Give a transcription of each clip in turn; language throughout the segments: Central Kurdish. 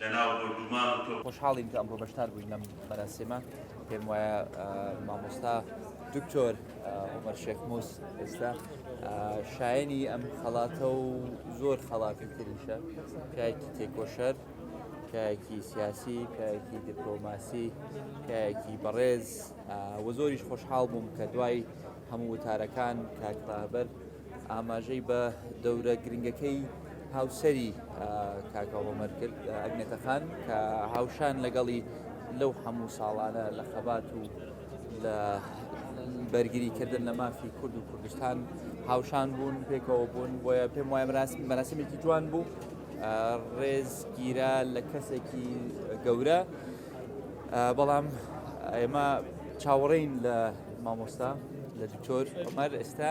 لەناو بۆردومان و تۆپ. خۆشحاڵین کە ئەمڕۆ بەشدار بووین لەم مەراسیمە پێم وایە مامۆستا دکتۆر عمر شێخ موس ئێستا شایەنی ئەم خەڵاتە و زۆر خەڵاتی تریشە پیاکی تێکۆشەر کایەکی سیاسی کایەکی دیپلۆماسی کایەکی بەڕێز وە زۆریش خۆشحاڵ بووم کە دوای هەموو وتارەکان کاکڕابەر ئاماژەی بە دەورە گرنگەکەی هاوسەری کاکە عومەر کرد ئەگنێتەخان کە هاوشان لەگەڵی لەو هەموو ساڵانە لە خەبات و لە بەرگریکردن لە مافی کورد و کوردستان هاوشان بوون پێکەوە بوون بۆیە پێم وایە مەراسمێکی جوان بوو ڕێز گیرا لە کەسێکی گەورە بەڵام ئێمە چاوەڕێین لە مامۆستا لە دکتۆر عمر ئێستا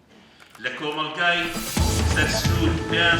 لە کۆمەڵگای سەر سنوور پێیان.